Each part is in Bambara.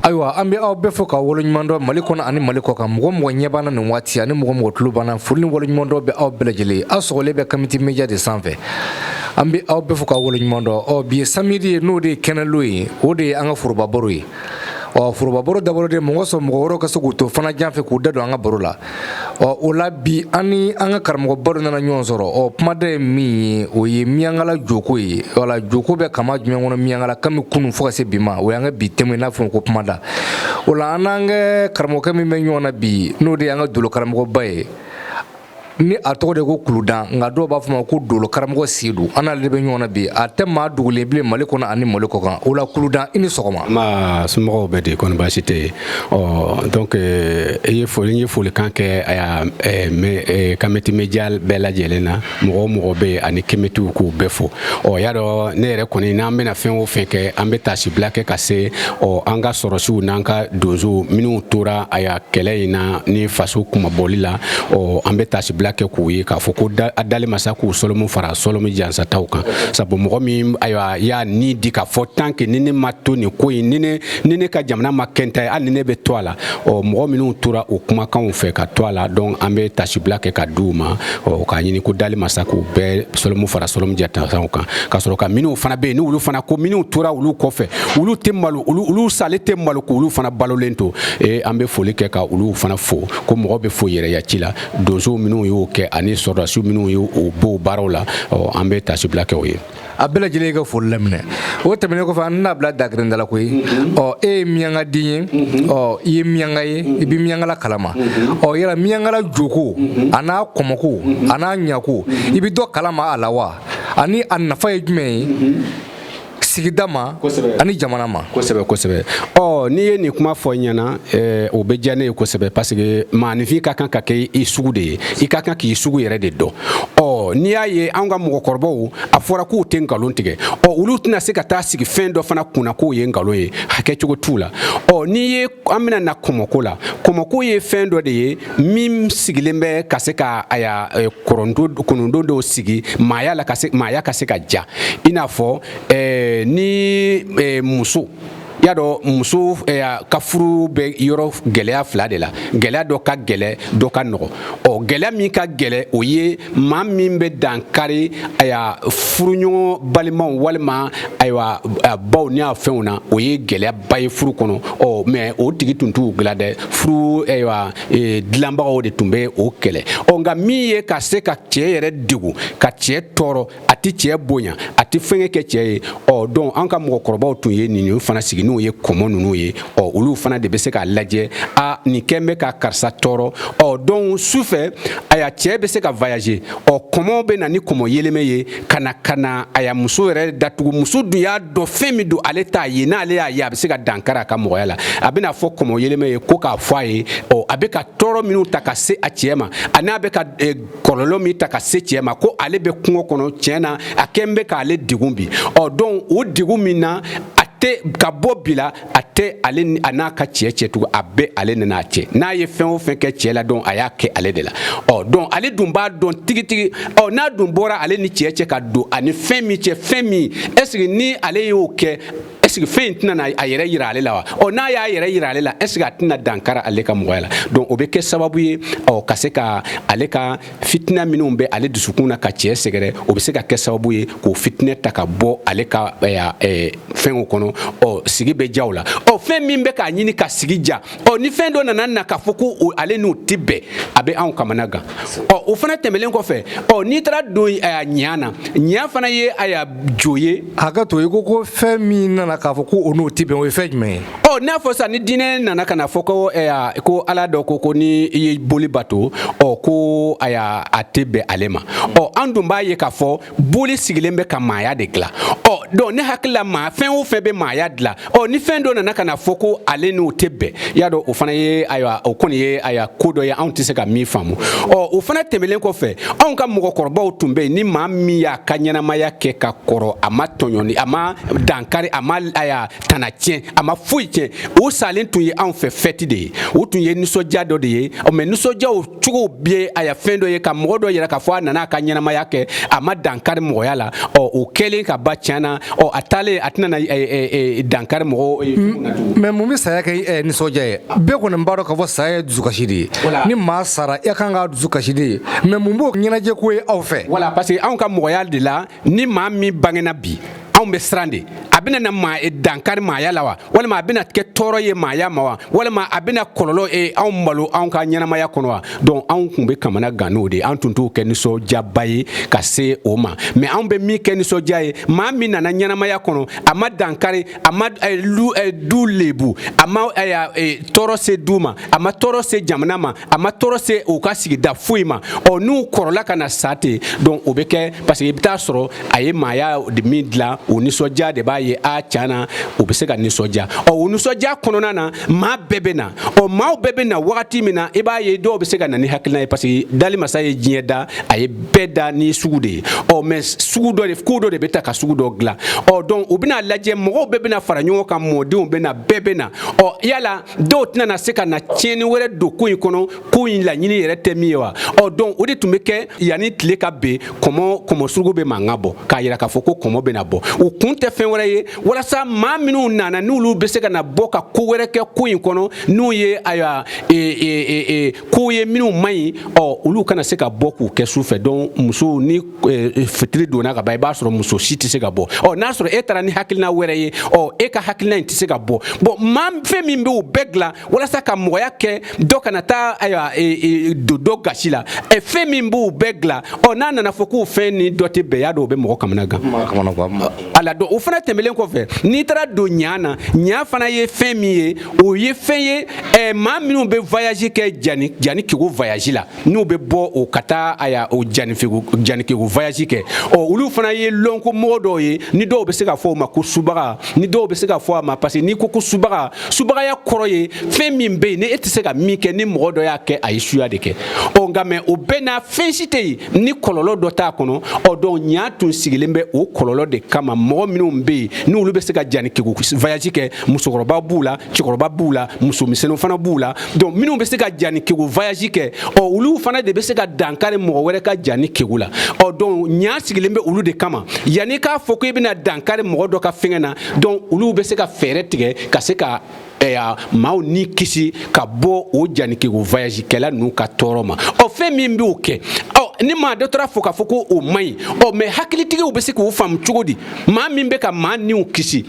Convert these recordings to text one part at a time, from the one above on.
ayiwa an bɛ aw bɛɛ fo ka waleɲumandɔ mali kɔnɔ ani mali kɔkan mɔgɔ o mɔgɔ ɲɛ b'an na nin waati ani mɔgɔ o mɔgɔ tulo b'an na foli ni waleɲumandɔ bɛ aw bɛɛ lajɛlen ye aw sɔgɔlen bɛ kamiti media de sanfɛ an bɛ aw bɛɛ fo ka waleɲumandɔ ɔ bi ye samedi ye n'o de ye kɛnɛlon ye o de ye an ka forobabaro ye ɔ forobabaro dabɔra o de mɔgɔ sɔn mɔgɔ wɛrɛw ka se k'u to fana jan fɛ k'u da don an ka baro la ɔ o la bi an ni an ka karamɔgɔba dɔ nana ɲɔgɔn sɔrɔ ɔ kumaden ye min ye o ye miyankala joko ye wala joko bɛ kama jumɛn kɔnɔ miyankala kami kunu fo ka se bi ma o y'an ka bi temu ye n'a fɔ ko kuma da o la an n'an ka karamɔgɔkɛ min bɛ ɲɔgɔn na bi n'o de y'an ka dolo karamɔgɔba ye ni a tɔgɔ de ko kuludan nka dɔw b'a fɔ ma ko dolo karamɔgɔ sedu an n'ale de bɛ ɲɔgɔn na bi a tɛ maa dogolen bilen mali kɔnɔ ani mali kɔkan o la kuludan i ni sɔgɔma somɔgɔw bɛ di kɔni baasi tɛ yen ɔ donc euh, i ye foli ye folikan kɛ euh, kameti média bɛɛ lajɛlen na mɔgɔ o mɔgɔ bɛ yen ani kemetiw k'u bɛɛ fo ɔ y'a dɔn ne yɛrɛ kɔni n'an bɛna fɛn o fɛn kɛ an bɛ taasibila kɛ ka se ɔ an ka sɔrɔsiw n'an ka donsow minnu tora aya kɛlɛ in na ni faso kunmabɔli la ɔ an bɛ taasibila kɛ k'u ye k'a fɔ ko a dali masa k'u sɔlɔmu fara sɔlɔmu jansataw kan sabu mɔgɔ min ayiwa y'a ni di k'a fɔ tant que ni ne ma to nin ko in ni ne ni ne ka jamana ma kɛnta ye hali ni ne bɛ to a la ɔ mɔgɔ minnu tora o kumakanw fɛ ka to a la donc an bɛ taasibila kɛ k'a d'u ma ɔ k'a ɲini ko dali masa k'u bɛɛ sɔlɔmu fara sɔlɔmu jansataw kan ka sɔrɔ ka minnu fana bɛ yen ni olu fana ko minnu tora olu kɔfɛ olu tɛ malo olu sale tɛ malo ko olu fana balolen to ee an bɛ foli kɛ ka olu fana fo ko mɔgɔ bɛ fo yɛrɛ ya ci la donso minnu y'o kɛ ani sɔrɔdasiw minnu y'o b'o baara la ɔ an bɛ taasibila kɛ o ye a bɛɛ lajɛlen ka foli laminɛ o tɛmɛnen kɔfɛ an tɛn'a bila dakirinda la koyi ɔ e ye miyanka den ye ɔ i ye miyanka ye i bɛ miyankala kalama ɔ yala miyankala joko an'a kɔmɔko an'a ɲako i bɛ dɔ kalama a la wa ani a nafa ye jumɛn ye sigida ma ani jamana ma kosɛbɛ kosɛbɛ ɔ n'i ye nin kuma fɔ ɲɛ na Eh, o bɛ diya ne ye kosɛbɛ parce que maaninfin ka kan ka kɛ i sugu de ye i ka kan k'i sugu yɛrɛ de dɔn ɔ n'i y'a ye anw ka mɔgɔkɔrɔbaw a fɔra k'u tɛ nkalon tigɛ ɔ olu tɛna se ka taa sigi fɛn dɔ fana kunna k'o ye nkalon ye a kɛcogo t'u la ɔ n'i ye an bɛna na kɔmɔko la kɔmɔko ye fɛn dɔ de ye min sigilen bɛ ka se ka aya eh, kurundu kurundu dɔw sigi maaya la ka se maaya ka se ka diya i n'a fɔ eh, ni eh, muso y'a dɔn muso eh, ka furu bɛ yɔrɔ gɛlɛya fila de la gɛlɛya dɔ ka gɛlɛn dɔ ka nɔgɔ ɔ gɛlɛya min ka gɛlɛn o ye maa min bɛ dankari aya furuɲɔgɔn balimaw walima ayiwa baw ni a fɛnw na o ye gɛlɛyaba ye furu kɔnɔ ɔ mais o tigi tun t'u dilan dɛ furu ayiwa e, dilanbagaw de tun bɛ o kɛlɛ ɔ nka min ye ka se ka cɛ yɛrɛ degun ka cɛ tɔɔrɔ a tɛ cɛ bonya a tɛ fɛnkɛ kɛ cɛ ye ɔ donc an ka mɔgɔkɔrɔbaw tun ye nin fana sigi n'o ye kɔmɔ ninnu ye ɔ olu fana de bɛ se k'a lajɛ a nin kɛn bɛ ka karisa tɔɔrɔ ɔ donc su fɛ aya cɛ bɛ se ka voyager ɔ kɔmɔ bɛ na ni kɔmɔ yeleme ye ka na ka na aya muso yɛrɛ datugu muso dun y'a dɔn fɛn min don ale t'a ye n'ale y'a ye a bɛ se ka dankari a ka mɔgɔya la a bɛna fɔ kɔmɔ yeleme ye ko k'a fɔ a ye ɔ a bɛ ka tɔɔrɔ minnu ta ka se a cɛ ma a n'a bɛ ka eh, kɔlɔlɔ min ta ka se cɛɛ ma ko ale bɛ kungo kɔnɔ tiɲɛ na a kɛn bɛ k'ale degun bi ɔ donc o degun min na a tɛ ka bɔ bi la a tɛ ale a n'a ka cɛɛ cɛ tugun a bɛ ale nana a cɛ n'a ye fɛn o fɛn kɛ cɛɛ la donc a y'a kɛ ale de la ɔ donc ale dun b'a dɔn tigitigi ɔ n'a dun bɔra ale ni cɛɛ cɛ ka don ani fɛn min cɛ fɛn min est ce que ni ale y'o kɛ est-ce que fɛn in tɛna na a yɛrɛ yira ale la wa ɔ n'a y'a yɛrɛ yira ale la est-ce que a tɛna dankara ale ka mɔgɔya la donc o bɛ kɛ sababu ye ɔ ka se ka ale ka fitina minnu bɛ ale dusukun na ka cɛ sɛgɛrɛ o bɛ se ka kɛ sababu ye k'o fitinɛ ta ka bɔ ale ka fɛnw kɔnɔ ɔ sigi bɛ ja o la ɔ fɛn min bɛ k'a ɲini ka sigi ja ɔ ni fɛn dɔ nana na k'a fɔ ko ale n'o tɛ bɛn a bɛ anw kamana gan ɔ o fana tɛmɛlen kɔfɛ ɔ n'i taara don a ɲa na ɲa fana ye aya jo ye hakɛ to i ko ko fɛn min nana k'a fɔ ko o n'o tɛ bɛn o ye fɛn jumɛn ye ɔ n'a fɔ sisan ni diinɛ nana ka na fɔ ko ko ala dɔ ko ko ni i ye boli bato ɔ ko aya a tɛ bɛn ale ma ɔ an dun b'a ye k'a fɔ boli sigilen bɛ ka maaya de dilan ɔ donc ne hakili la maa fɛn o fɛn bɛ maaya dilan ɔ ni fɛn dɔ nana ka na fɔ ko ale n'o tɛ bɛn y'a dɔn o fana ye ayiwa o kɔni ye ayiwa ko dɔ ye anw tɛ se ka min faamu ɔ o fana tɛmɛlen kɔfɛ anw ka mɔgɔkɔrɔbaw tun bɛ yen ni maa min y'a ka ɲɛnamaya kɛ ka kɔrɔ a ma tɔɲɔni a ma dankari a ma ayiwa tana tiɲɛ a ma foyi tiɲɛ o salen tun ye anw fɛ fɛti de ye o tun ye nisɔndiya dɔ de ye ɔ mais nisɔndiya o cogo bɛ aya fɛn dɔ ye ka mɔgɔ dɔ yira k'a fɔ a nana a ka ɲɛnamaya kɛ a ma dankari mɔgɔya la ɔ o kɛlen ka ban tiɲɛ na ɔ a taalen a tɛna dankari mɔgɔ ye mais mun bɛ saya kɛ nisɔndiya ye bɛɛ kɔni b'a dɔn k'a fɔ saya ye dusukasi de ye ni maa sara e kan ka dusukasi de ye mais mun b'o ɲɛnajɛ ko ye aw fɛ voilà parce que anw ka mɔgɔya de la ni maa min bangena bi anw bɛ siran de a bɛna na maa e dankari maaya la wa walima a bɛna kɛ tɔɔrɔ ye maaya ma wa walima a bɛna kɔlɔlɔ e anw malo anw ka ɲɛnamaya kɔnɔ wa donc anw tun bɛ kamana gan n'o de an tun t'o kɛ nisɔndiyaba ye ka se o ma mais anw bɛ min kɛ nisɔndiya ye maa min nana ɲɛnamaya kɔnɔ a ma dankari a ma eh, lu, eh, du lebu a ma eh, eh, tɔɔrɔ se du ma a ma tɔɔrɔ se jamana ma a ma tɔɔrɔ se u ka sigida foyi ma ɔ n'u kɔrɔla ka na sa ten donc o bɛ kɛ parce que i bɛ taa sɔrɔ a ye maaya de min dilan o nisɔndiya de b'a ye a tiɲɛ na o bɛ se ka nisɔndiya ɔ o nisɔndiya kɔnɔna na maa bɛɛ bɛ na ɔ maaw bɛɛ bɛ na wagati min na i b'a ye dɔw bɛ se ka na ni hakilina ye parce que dali masa ye diɲɛ da a ye bɛɛ da ni sugu de ye ɔ mais sugu dɔ de ko dɔ de bɛ ta ka sugu dɔ dilan ɔ donc u bɛna lajɛ mɔgɔw bɛɛ bɛna fara ɲɔgɔn kan mɔdenw bɛna bɛɛ bɛna ɔ yala dɔw tɛna na se ka na tiɲɛni wɛrɛ don ko in kɔnɔ ko in laɲini yɛrɛ tɛ min ye wa ɔ donc o de tun bɛ kɛ yanni tile ka ben kɔmɔ kɔmɔ suruku bɛ mankan bɔ k'a yira k'a fɔ ko kɔmɔ bɛna bɔ o kun tɛ fɛn wɛrɛ ye walasa maa minnu nana n'olu bɛ se ka na bɔ ka ko wɛrɛ kɛ ko in kɔnɔ n'o ye ayiwa e, e, e, e, kow ye minnu man ɲi ɔ olu kana se ka bɔ k'u kɛ su fɛ donc musow ni eh, eh, fitiri donna ka ban i b'a sɔrɔ muso si tɛ se ka bɔ ɔ n'a sɔrɔ e taara ni hakilina wɛrɛ ye ɔ e ka hakilina in tɛ se ka bɔ bon maa fɛn min bɛ o bɛɛ dilan walasa ka mɔgɔya kɛ dɔ kana taa ayiwa eh, don dɔ gasi la ɛ fɛn min b'o bɛɛ dilan ɔ n'a nana fɔ k'o fɛn ni dɔ tɛ bɛn y'a dɔn o bɛ mɔgɔ kamana gan a la donc o fana tɛmɛlen kɔfɛ n'i taara don ɲa na ɲa fana ye fɛn min ye o ye fɛn ye maa minnu bɛ voyage kɛ jani janikegu voyage la n'u bɛ bɔ o ka taa aya o janikegu janikegu voyage kɛ ɔ olu fana ye lɔnko mɔgɔ dɔw ye ni dɔw bɛ se ka fɔ o ma ko subaga ni dɔw bɛ se ka fɔ a ma parce que n'i ko ko subaga subagaya kɔrɔ ye fɛn min bɛ yen ni e tɛ se ka min kɛ ni mɔgɔ dɔ y'a kɛ a ye suya de kɛ ɔ nka mais o bɛɛ na fɛn si tɛ yen ni kɔlɔlɔ dɔ t'a kɔnɔ ɔ donc ɲa tun sigilen bɛ o kɔlɔlɔ de kama mɔgɔ minnu bɛ yen n'olu bɛ se ka janikegu voyage kɛ musokɔrɔba b'u la cɛkɔrɔba b'u la musomisɛnninw fana b'u la donc minnu bɛ se ka janikegu voyage kɛ ɔ olu fana de bɛ se ka dankari mɔgɔ wɛrɛ ka janikegu la ɔ donc ɲa sigilen bɛ olu de kama yanni k'a fɔ ko i bɛna dankari mɔgɔ dɔ ka fɛngɛ na donc olu bɛ se ka fɛɛrɛ tigɛ ka se ka aya maaw ni kisi ka bɔ o janikegu voyage kɛla ninnu ka tɔɔrɔ ma ɔ fɛn min b'o kɛ ɔ ni maa dɔ taara fɔ k'a fɔ ko o man ɲi ɔ mais hakilitigiw bɛ se k'o faamu cogo di maa min bɛ ka maa niw kisi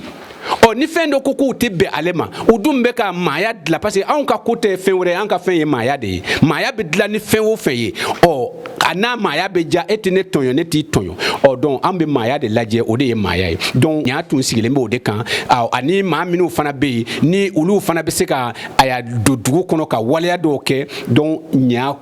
ɔ ni fɛn dɔ ko k'u tɛ bɛn ale ma u dun bɛ ka maaya dilan parce que anw ka ko tɛ fɛn wɛrɛ ye an ka fɛn ye maaya de ye maaya bɛ dilan ni fɛn o fɛn ye ɔ a n'a maaya bɛ diya e tɛ ne tɔɲɔ ne t'i tɔɲɔ ɔ donc an bɛ maaya de lajɛ o de ye maaya ye donc ɲa tun sigilen bɛ o de kan ani maa minnu fana bɛ yen ni olu fana bɛ se ka aya don dugu kɔnɔ ka waleya dɔw kɛ donc ɲa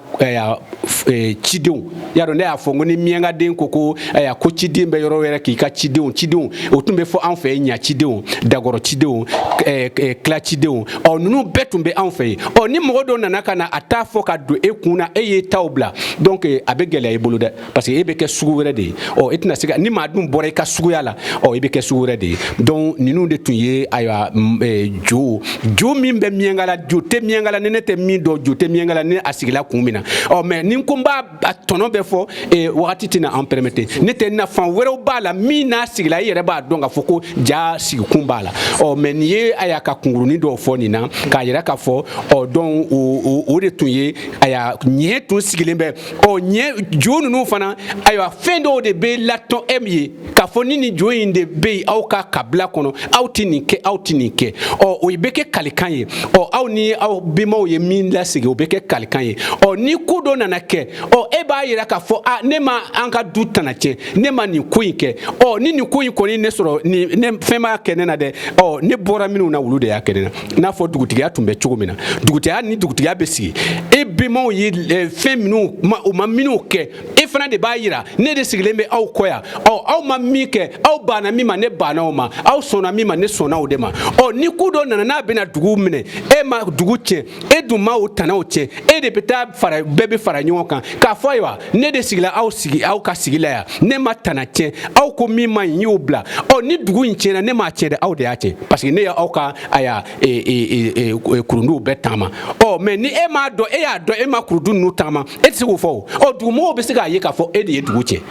Eh, cidenw y'a dɔn ne y'a fɔ n ko ni miyankaden ko ko aya ko ciden bɛ yɔrɔ wɛrɛ k'i ka cidenw cidenw o tun bɛ fɔ anw fɛ yen ɲa cidenw dagɔrɔ cidenw eh, eh, kila cidenw ɔ ninnu bɛɛ tun bɛ anw fɛ yen ɔ ni mɔgɔ dɔ nana ka na a t'a fɔ ka don e kun na e y'e taw bila donc a bɛ gɛlɛya i bolo dɛ parce que e bɛ kɛ sugu wɛrɛ de ye ɔ e tɛna se ka ni maa dun bɔra i ka suguya la ɔ e bɛ kɛ sugu wɛrɛ de ye donc ninnu de tun ye ayiwa eh, jo jo min bɛ miɲankala jo tɛ miɲankala ni ne tɛ min dɔn jo tɛ miɲankala ni a sigila kun min na ɔ mais ni ko n b'a a tɔnɔ bɛɛ fɔ eh, wagati tɛna an permettre ne tɛ nafa wɛrɛw b'a la min n'a sigila i yɛrɛ b'a dɔn k'a fɔ ko jaa sigikun b'a la ɔ mais nin ye a y'a ka kunkurunin dɔw fɔ nin na k'a yira k'a fɔ ɔ donc o de tun ye a y'a ɲɛ tun sigilen bɛ ɔ ɲɛ jo ninnu fana ayiwa fɛn dɔw de bɛ latɔn e min ye k'a fɔ ni nin jo in de bɛ yen aw ka kabila kɔnɔ aw tɛ nin kɛ aw tɛ nin kɛ ɔ o bɛ kɛ kalikan ye ɔ aw ni aw bɛnbaw ye min lasigi o bɛ kɛ kalikan ye ɔ ni ko dɔ nana kɛ ɔ e b'a yira k'a fɔ a ne ma an ka du tana tiɲɛ ne ma nin ko in kɛ ɔ ni nin ko in kɔni ne sɔrɔ nin ne fɛn b'a kɛ ne na dɛ ɔ ne bɔra minnu na olu de y'a kɛ ne na n'a fɔ dugutigiya tun bɛ cogo min na dugutigiya ni dugutigiya bɛ sigi e bɛnbaw ye eh, fɛn minnu u ma minnu kɛ e fana de b'a yira ne de sigilen bɛ aw kɔ yan ɔ aw ma min kɛ aw banna min ma ne banna o ma aw sɔnna min ma ne sɔnna o de ma ɔ ni ko dɔ nana n'a bɛna dugu minɛ e ma dugu tiɲɛ e dun ma o tanaw tiɲɛ e de bɛ taa fara bɛɛ bɛ fara ɲɔgɔn kan k'a fɔ ayiwa ne de sigila aw sigi aw ka sigi la yan ne ma tana tiɲɛ aw ko min ma ɲi n y'o bila ɔ ni dugu in tiɲɛna ne m'a tiɲɛ dɛ aw de y'a tiɲɛ parce que ne y'aw ka aya e, e, e, kurunduw bɛɛ taama ɔ mais ni e m'a dɔn e y'a dɔn e ma kurundu ninnu taama e tɛ se k'o fɔ o ɔ dugumɔgɔw bɛ se k'a ye k'a fɔ e de ye dugu tiɲɛ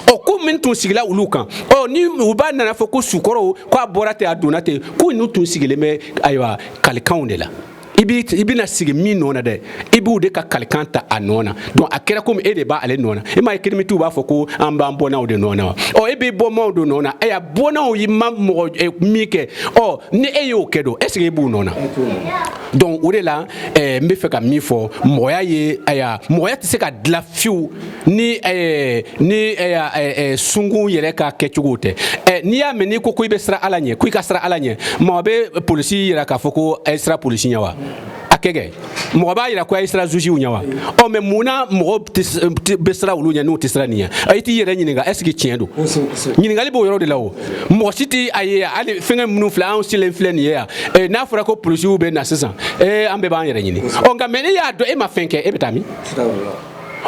ɔ ko min tun sigila olu kan ɔ ni u b'a nana fɔ ko sukɔrɔw k'a bɔra ten a donna ten ko ninnu tun sigilen bɛ ayiwa kalikanw de la i bɛna sigi min nɔ na dɛ i b'u de ka kalikan ta a nɔ na donc a kɛra komi e de b'ale nɔ na i m'a ye kamitiw b'a fɔ ko an b'an bɔnnaw de nɔ na wa ɔ e b'i bɔnnaw de nɔ na ɛ a bɔnnaw ye ma mɔgɔ min kɛ ɔ ni e y'o kɛ don est ce que e b'u nɔ na donc o de la n bɛ fɛ ka min fɔ mɔgɔya ye aya mɔgɔya tɛ se ka dilan fiyewu ni eh, ni eh, eh, eh, sunkun yɛrɛ ka kɛcogow tɛ eh, n'i y'a mɛn n'i ko ko i bɛ siran ala ɲɛ ko i ka siran ala ɲɛ mɔgɔ bɛ polisi yira k'a fɔ ko a ye siran polisi ɲɛ wa a kɛ kɛ mɔgɔ b'a yira ko a ye siran jugew ɲɛ wa ɔ mais mun na mɔgɔ tɛ s- tɛ- bɛ siran olu ɲɛ n'u tɛ siran nin ɲɛ Ɔ, i t'i yɛrɛ ɲininka est ce que tiɲɛ don ɲininkali b'o yɔrɔ de la o mɔgɔ si tɛ a ye hali fɛngɛ minnu filɛ anw silen filɛ nin ye yan eh, n'a fɔra ko polisiw bɛ na sisan eh, an bɛɛ b'an yɛrɛ ɲini ɔ nka mais n'i y'a dɔn e ma fɛn kɛ e bɛ taa min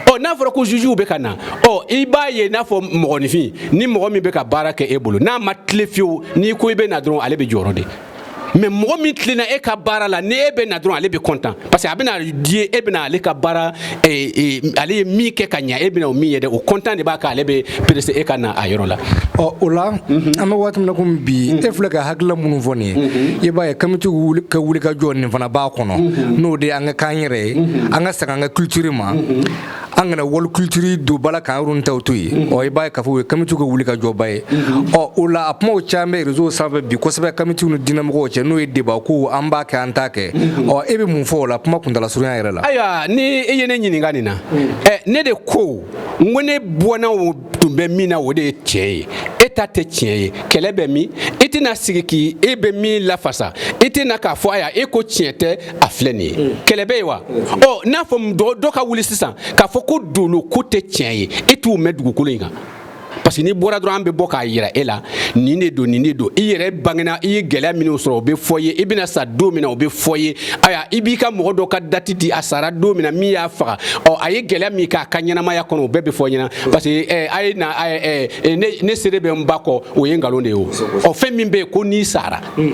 ɔ n'a fɔra ko jugew bɛ ka na ɔ i b'a ye n'a fɔ mɔgɔninfin ni mɔgɔ min bɛ ka baara kɛ e bolo n'a ma tilen fiyewu n'i ko i bɛ na dɔrɔn ale bɛ jɔrɔ de mais mɔgɔ min tilenna e ka baara la ni e bɛ na dɔrɔn ale bɛ content parce que a bɛna di e bɛna ale ka baara eh, eh, ale ye min kɛ ka ɲa e bɛna o min ye dɛ o content de b'a kɛ ale bɛ pressé e ka na a yɔrɔ la ɔ o la mhm. an bɛ waati min na komi bi e mhm. filɛ ka hakilila minnu fɔ nin ye mhm. i b'a ye kamitiw ka wulikajɔ nin fana b'a kɔnɔ n'o de an ka kan yɛrɛ ye mhm. an ka segin an ka culture ma mhm. an kana wali culture don ba la k'an yɔrɔ in taw to yen mhm. ɔ i b'a ye k'a fɔ o ye kamitiw ka wulikajɔba ye ɔ o la a kumaw caman bɛ réseau sanfɛ bi kosɛbɛ kamitiw ni diinɛmɔgɔw cɛ n'o ye débat ko an b'a kɛ an t'a kɛ ɔ e bɛ mun fɔ o la kuma kuntala surunya yɛrɛ la ayiwa ni e ye ne ɲininka nin na ɛ ne de ko n ko ne bɔnnaw tun bɛ min na o de ye tiɲɛ ye e ta tɛ tiɲɛ ye kɛlɛ bɛ min i tɛna sigi k'i e bɛ min lafasa i tɛna k'a fɔ aya e ko tiɲɛ tɛ a filɛ nin ye mm. kɛlɛ bɛ yen wa mm. ɔ n'a fɔ dɔ ka wuli sisan k'a fɔ ko dolo ko tɛ tiɲɛ ye e t'u mɛn dugukolo in kan parce que n'i bɔra dɔrɔn an bɛ bɔ k'a jira e la nin de don nin de don i yɛrɛ bangena i ye gɛlɛya minnu sɔrɔ o bɛ fɔ ye i bɛna sa don min na o bɛ fɔ ye aya i b'i ka mɔgɔ dɔ ka dati di a sara don min na min y'a faga ɔ a ye gɛlɛya min k'a ka ɲɛnamaya kɔnɔ o bɛɛ bɛ fɔ ɲɛna parce que eh, a ye na eh, eh, ne seere bɛ ba kɔ o ye nkalon de ye o ɔ fɛn min bɛ yen ko n'i sara hmm.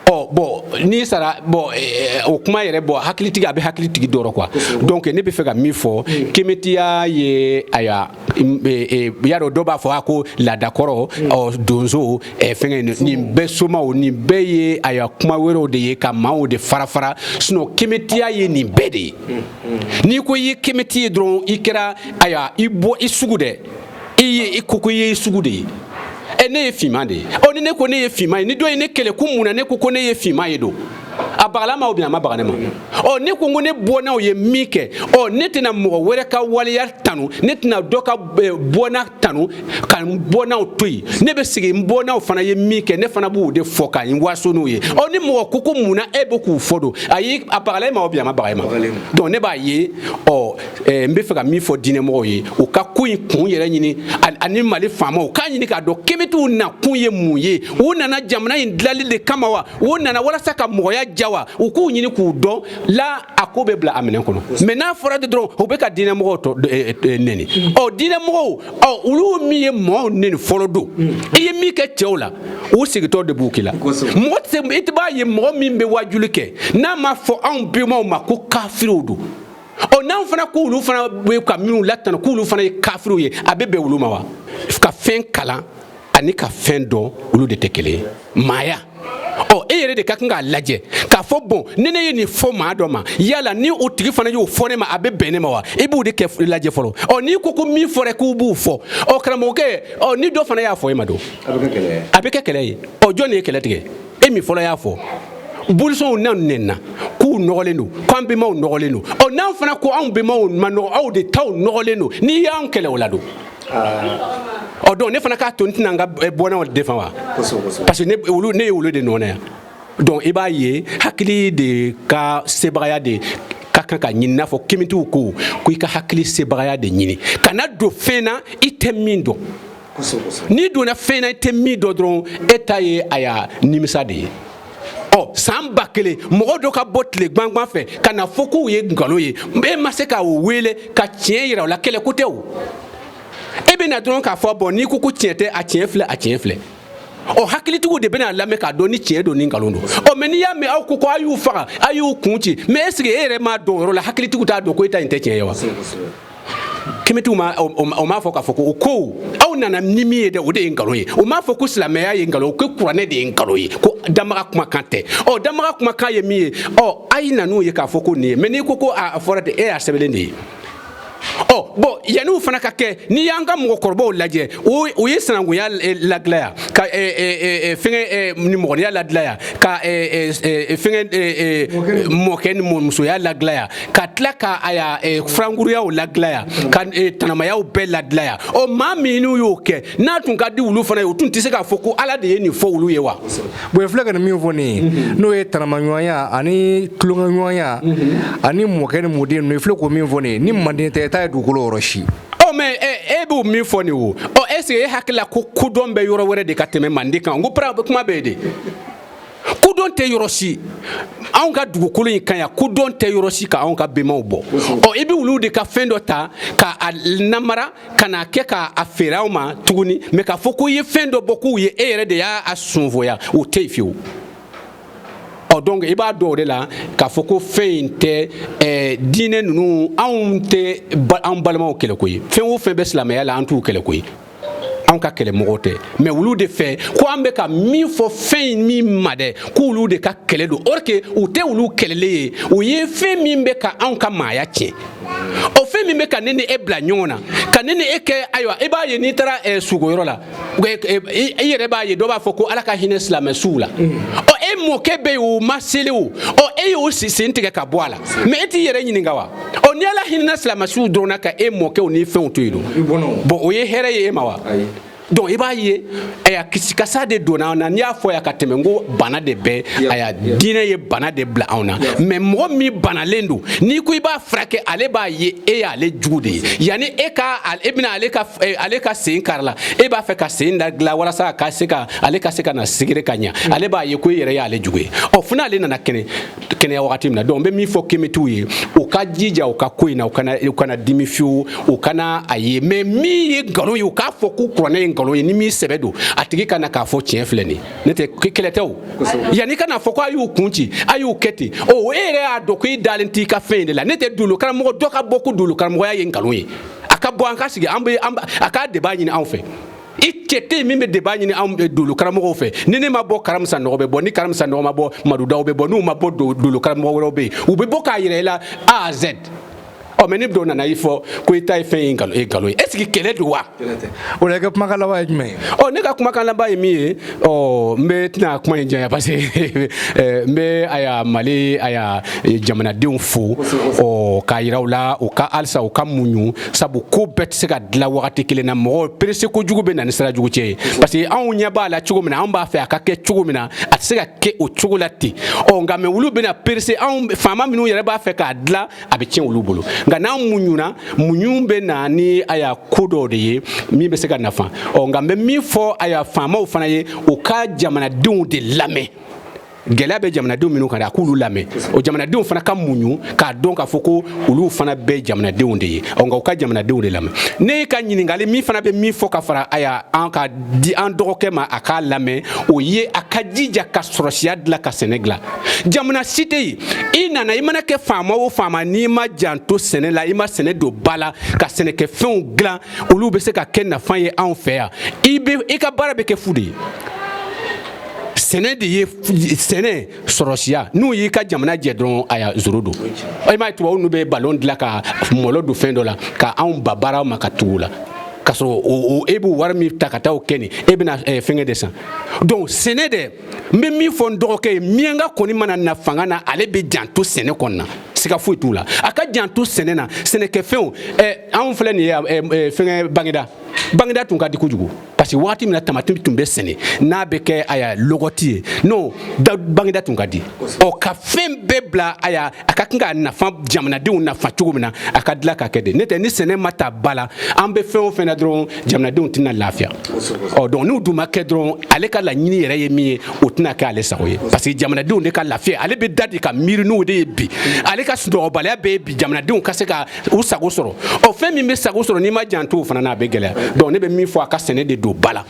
ɔ bɔn n'i sara bɔn eh, o kuma yɛrɛ bɔn hakilitigi a bɛ hakilitigi dɔrɔn quoi donc ne bɛ fɛ ka min fɔ mm. kemetiya ye aya eh, eh, y'a dɔn dɔ b'a fɔ a ko laadakɔrɔ mm. ɔ donsow fɛngɛ mm. nin bɛɛ somaw nin bɛɛ ye aya kuma wɛrɛw de ye ka maaw de farafara sinon kemetiya ye nin bɛɛ de ye n'i ko i ye kemeti ye dɔrɔn i kɛra aya i bɔ i sugu dɛ i ye i ko ko i ye i sugu de ye e ne ye finman de ye ɔ ni ne ko ne ye finman ye ni dɔ ye ne kɛlɛ ko mun na ne ko ko ne ye finman ye don a bagala ma ou bien a ma baga ne ma ɔ ne ko ko ne bɔnnaw ye min kɛ ɔ ne tɛna mɔgɔ wɛrɛ ka waleya tanu ne tɛna dɔ ka eh, bɔnna tanu ka n bɔnnaw to yen ne bɛ sigi n bɔnnaw fana ye min kɛ ne fana b'o de fɔ ka n waso n'o ye ɔ ni mɔgɔ ko ko mun na e bɛ k'u fɔ don ayi a bagala e ma ou bien a ma baga e ma donc ne b'a ye ɔ Eh, n bɛ fɛ ka min fɔ diinɛmɔgɔw ye u ka ko in kun yɛrɛ ɲini ani Mali faamaw k'a ɲini k'a dɔn kemetiw na kun ye mun ye u nana jamana in dilali de kama wa u nana walasa ka mɔgɔya ja wa u k'u ɲini k'u dɔn la a ko bɛ bila a minɛn kɔnɔ mais n'a fɔra de dɔrɔn u bɛ ka diinɛmɔgɔw tɔ eh, eh, neni ɔ diinɛmɔgɔw ɔ olu min ye mɔgɔw neni fɔlɔ don i ye min kɛ cɛw la u segintɔ de b'u k'i la mɔgɔ tɛ i tɛ b'a ye mɔgɔ min bɛ wajuli kɛ n'a ma fɔ anw bɛnbaw ma ko kafiriw don ɔ n'anw fana ko olu fana bɛ ka minnu latanu k'olu fana ye kafiriw ye a bɛ bɛn olu ma wa ka fɛn kalan ani ka fɛn dɔn olu de tɛ kelen ye maaya ɔ e yɛrɛ de ka kan k'a lajɛ k'a fɔ bɔn ni ne ye nin fɔ maa dɔ ma yala ni o tigi fana y'o fɔ ne ma a bɛ bɛn ne ma wa i b'o de kɛ lajɛ fɔlɔ ɔ n'i ko ko min fɔra k'u b'u fɔ ɔ karamɔgɔkɛ ɔ ni dɔ fana y'a fɔ e ma don a bɛ kɛ kɛlɛ ye ɔ jɔn de ye kɛlɛ tigɛ e min fɔlɔ y'a fɔ bolisɔnnaw nɛnna k'u nɔgɔlen don k'an bɛnbaw nɔgɔlen don ɔ n'an fana ko anw bɛnbaw ma nɔgɔ aw de taw nɔgɔlen don n'i y'anw kɛlɛ o la don ɔ donc ne fana k'a to n tɛna n ka eh, bɔnnaw defan wa parce que ne olu ne ye olu de nɔ na yan donc i b'a ye hakili de ka sebagaya de ka kan ka ɲini n'a fɔ kemitiw ko ko i ka hakili sebagaya de ɲini kana don fɛn na i tɛ min dɔn n'i donna fɛn na i tɛ min dɔn dɔrɔn e ta ye a y'a nimisa de ye ɔ san ba kelen mɔgɔ dɔ ka bɔ tile gbangban fɛ ka na fɔ k'u ye nkalon ye e ma se ka o wele ka tiɲɛ yira o la kɛlɛ ko tɛ o e bɛ na dɔrɔn k'a fɔ bɔn n'i ko ko tiɲɛ tɛ a tiɲɛ filɛ a tiɲɛ filɛ ɔ hakilitigiw de bɛna lamɛn k'a dɔn ni tiɲɛ don ni nkalon don ɔ mɛ n'i y'a mɛn aw ko ko a y'u faga a y'u kun ci mɛ eseke e yɛrɛ m'a dɔn o yɔrɔ la hakilitigiw t'a dɔn ko e ta in tɛ tiɲɛ ye wa kemitiw ma o m'a fɔ k'a fɔ ko o ko aw nana ni min ye dɛ o de ye nkalon ye o m'a fɔ ko silamɛya ye nkalon ko kuranɛ de ye nkalon ye ko danbaga kumakan tɛ ɔ danbaga kumakan ye min ye ɔ a ye na n'o ye k'a fɔ ko nin ye mɛ n'i ko ko a fɔra de e y'a sɛbɛnlen de ye ɔ bɔn yanni o fana ka kɛ n'i y'an ka mɔgɔkɔrɔbaw lajɛ o ye sinankunya ladilan yan ka fɛngɛ nimɔgɔniya ladilan yan ka fɛngɛ mɔkɛ ni mɔmusoya ladilan yan ka tila ka a y'a eh, furankuruyaw ladilan yan ka eh, tanamayaw bɛɛ ladilan yan ɔ maa minnu y'o kɛ n'a tun ka di olu fana ye u tun tɛ se k'a fɔ ko ala de ye nin fɔ olu ye wa bɔn i filɛ ka nin min fɔ nin ye mhm. n'o ye tanamaɲɔgɔnya ani tulonkɛɲɔgɔnya mhm. ani mɔkɛ ni mɔden ninnu i filɛ k'o min fɔ nin ye ni manden tɛ i t'a ye dugukolo yɔrɔ si ɔ mɛ eh, e b'o min fɔ nin o ɔ ɛseke e hakili la ko kodɔn bɛ yɔrɔ wɛrɛ de ka tɛmɛ manden kan n ko kuma bɛ yen de kodɔn tɛ yɔrɔ si anw ka dugukolo in kan yan kodɔn tɛ yɔrɔ si ka anw ka bɛnbaw bɔ ɔ i bɛ olu de ka fɛn dɔ ta ka a namara ka n'a kɛ ka a feere anw ma tuguni mɛ k'a fɔ ko i ye fɛn dɔ bɔ k'u ye e yɛrɛ de y'a sunfoya o tɛ yen fiyewu ɔ donc i b'a dɔn o de la k'a fɔ ko fɛn in tɛ eh, diinɛ ninnu anw tɛ ba, an balimaw kɛlɛko ye fɛn o fɛn bɛ silamɛya la an t'u kɛlɛko ye anw ka kɛlɛmɔgɔw tɛ mɛ olu de fɛ ko an bɛ ka min fɔ fɛn in min ma dɛ k'olu de ka kɛlɛ don or que u tɛ olu kɛlɛlen ye u ye fɛn min bɛ ka anw ka maaya tiɲɛ o fɛn min bɛ ka ne ni e bila ɲɔgɔn na ka ne ni e kɛ ayiwa i b'a ye n'i taara eh, sukoyɔrɔ la eh, eh, i yɛrɛ b'a ye dɔ b'a fɔ ko ala ka hinɛ silamɛ suw la mm. ɔ e mɔkɛ bɛ yen o ma seli o ɔ e y'o sen tigɛ ka bɔ a la mɛ e t'i yɛrɛ ɲininka wa ɔ ni ala hinɛna silamɛsuw dɔrɔn na ka e mɔkɛw ni fɛnw to yen don bon o ye hɛrɛ ye e ma wa donc i b'a ye aya kisikasa de donna an na ne y'a fɔ yan ka tɛmɛ ko bana de bɛ aya diinɛ ye bana de bila anw na mais mɔgɔ min banalen don n'i ko i b'a furakɛ ale b'a ye e y'ale jugu de ye yanni e ka e bɛna ale ka eh, ale ka sen karila e b'a fɛ ka sen da dilan walasa ka se ka ale ka se ka na sigire ka ɲa mm. ale b'a ye ko e yɛrɛ y'ale jugu ye ɔ fo n'ale nana kɛnɛ kɛnɛya wagati min na donc n bɛ min fɔ kemitiw ye u ka jija u ka ko in na u kana u kana dimi fiyewu u kana a ye mais min ye nkalon ye u k'a fɔ ko kuranɛ ye nkalon ye ni min sɛbɛ don a tigi ka na k'a fɔ tiɲɛ filɛ nin ne tɛ kɛlɛ tɛ o yanni ka na fɔ ko a y'u kun ci a y'u kɛ ten o e yɛrɛ y'a dɔn ko i dalen t'i ka fɛn in de la ne tɛ dolo karamɔgɔ dɔ ka bɔ ko dolo karamɔgɔya ye nkalon ye a ka bɔ an ka sigi an bɛ a ka débat ɲini anw fɛ i cɛ tɛ min bɛ débat ɲini anw eh, dolo karamɔgɔw fɛ ni ne ma bɔ karim sanɔgɔ bɛ bɔ ni karim sanɔgɔ ma bɔ madu daw bɛ bɔ n'u ma bɔ dolo karamɔgɔ wɛrɛw bɛ yen u bɛ bɔ k'a yira i la a z ɔ mais ni dɔ nana i fɔ ko i ta ye fɛn ye nkalon ye nkalon ye est ce que kɛlɛ don wa o la i ka kumakan laban ye jumɛn ye ɔ ne ka kumakan laban ye min ye ɔ n bɛ tɛna kuma in janya parce que eh, n bɛ aya mali aya eh, jamanadenw fo ɔ k'a yira u la u ka halisa u ka muɲu sabu ko bɛɛ tɛ se ka dilan wagati kelen na mɔgɔ perese kojugu bɛ na ni sira jugu cɛ ye parce que anw ɲɛ b'a la cogo min na anw b'a fɛ a ka kɛ cogo min na a tɛ se ka kɛ o cogo la ten ɔ nka mais olu bɛna perese anw faama minnu yɛrɛ b'a fɛ k'a dilan a bɛ tiɲɛ olu bolo nka n'an muɲuna muɲu bɛ na ni aya ko dɔw de ye min bɛ se ka nafa ɔ nka n bɛ min fɔ aya faamaw fana ye u ka jamanadenw de lamɛn gɛlɛya bɛ jamanadenw minnu kan dɛ a k'olu lamɛn o jamanadenw fana ka muɲu k'a dɔn k'a fɔ ko olu fana bɛ jamanadenw de ye ɔ nka u ka jamanadenw de lamɛn ne ye ka ɲininkali min fana bɛ min fɔ ka fara aya an ka di an dɔgɔkɛ ma a k'a lamɛn o ye a ka jija ka sɔrɔsiya dilan ka sɛnɛ dilan jamana si tɛ yen i nana i mana kɛ faama o faama n'i ma janto sɛnɛ la i ma sɛnɛ don ba la ka sɛnɛkɛfɛnw dilan olu bɛ se ka kɛ nafa ye anw fɛ yan i bɛ i ka baara bɛ kɛ fu de ye sɛnɛ de ye sɛnɛ sɔrɔsiya n'u y'i ka jamana jɛ dɔrɔn aya zero don i m'a ye tubabu ninnu bɛ balon dilan ka mɔlɔ don fɛn dɔ la ka anw ba baaraw ma ka tugu la ka sɔrɔ e b'o wari min ta ka taa o kɛ nin e bɛna eh, fɛngɛ de san donc sɛnɛ dɛ n bɛ min fɔ n dɔgɔkɛ ye miyanka kɔni mana na fanga na ale bɛ janto sɛnɛ kɔni na siga foyi t'o la a ka janto sɛnɛ na sɛnɛkɛfɛnw eh, anw filɛ nin ye eh, fɛngɛ baginda baginda tun ka di kojugu parce que wagati min na tamati tun bɛ sɛnɛ n'a bɛ kɛ a ya lɔgɔti ye non bagineda tun ka di ɔ ka fɛn bɛɛ bila a ya a ka kan ka nafa jamanadenw nafa cogo min na a ka dilan ka kɛ de nɔntɛ ni sɛnɛ ma ta ba la an bɛ fɛn o fɛn na dɔrɔn jamanadenw tɛna lafiya ɔ donc n'o dun ma kɛ dɔrɔn ale ka laɲini yɛrɛ ye min ye o tɛna kɛ ale sago ye parce que jamanadenw de ka lafiya ale bɛ da de ka miiri n'o de ye bi ale ka sunɔgɔbaliya bɛɛ ye bi jamanadenw ka se ka u sago sɔrɔ ɔ fɛn min bɛ sago sɔrɔ n'i ma janto o fana na a bɛ gɛlɛya donc ne bɛ min fɔ a ka sɛnɛ de don ba la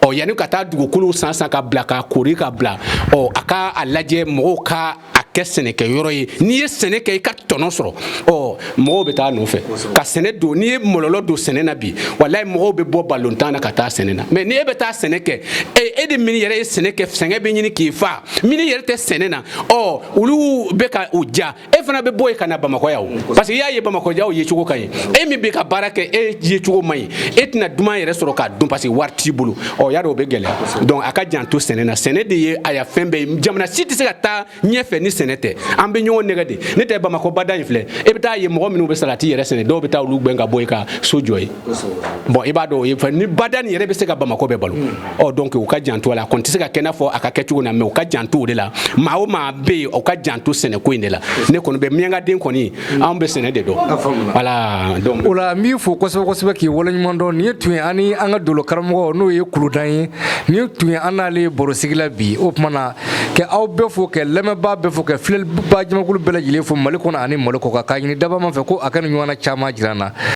ɔ yanni ka taa dugukolo san san ka bila ka koori ka bila ɔ a ka a lajɛ mɔgɔw ka a kɛ sɛnɛkɛ yɔrɔ ye n'i ye sɛnɛ kɛ i ka tɔnɔ sɔrɔ ɔ mɔgɔw bɛ taa nɔfɛ ka sɛnɛ don n'i ye mɔlɔlɔ don sɛnɛ na bi walayi mɔgɔw bɛ bɔ balontan na ka taa sɛnɛ na mais ni e bɛ taa sɛnɛ kɛ e, e de min yɛrɛ ye sɛnɛ kɛ sɛgɛn bɛ ɲini k'i faga min yɛrɛ tɛ sɛnɛ na ɔ olu bɛ ka u ja e fana bɛ bɔ yen ka na bamakɔ yan o parce que i y'a ye bamakɔkaw yecogo ka ɲi e min bɛ ka baara kɛ e yecogo man ɲi e tɛna duman yɛrɛ sɔrɔ k'a dun parce que wari t'i bolo ɔ y'a dɔn o bɛ gɛlɛya donc a ka janto sɛnɛ na sɛnɛ de ye a ya fɛn bɛɛ ye jamana si tɛ se ka taa ɲɛfɛ ni sɛnɛ tɛ an bɛ ɲɔgɔn nɛgɛn de nɔntɛ bamakɔ bada in filɛ e bɛ taa ye mɔgɔ minnu bɛ salati yɛrɛ sɛnɛ dɔw bɛ taa olu gɛn ka bɔ yen ka so jɔ yen bon i b'a dɔn o ye fɛn ni bada nin yɛrɛ bɛ se ka bamakɔ bɛɛ balo ɔ donc u ka janto a la a kɔni tɛ se ka kɛ i n'a fɔ a ka kɛ cogo na mais u ka janto o de la maa o maa bɛ yen u ka janto sɛnɛko in de la ne kɔni bɛ miyankaden kɔni anw bɛ sɛnɛ de dɔn voilà donc o la n b'i fo kosɛbɛ kosɛbɛ k'i waleɲuman dɔn nin ye tun ye an ni an ka dolo karamɔgɔ n'o ye kuludan ye nin tun ye an n'ale barosigi la bi o tuma na k'aw bɛɛ fo ka lamɛnbaa bɛɛ fo ka filɛlibaa jamakulu bɛɛ lajɛlen fo mali kɔnɔ ani mali kɔkan k'a ɲini dabaa ma fɛ ko a ka nin ɲɔgɔnna caman jira an na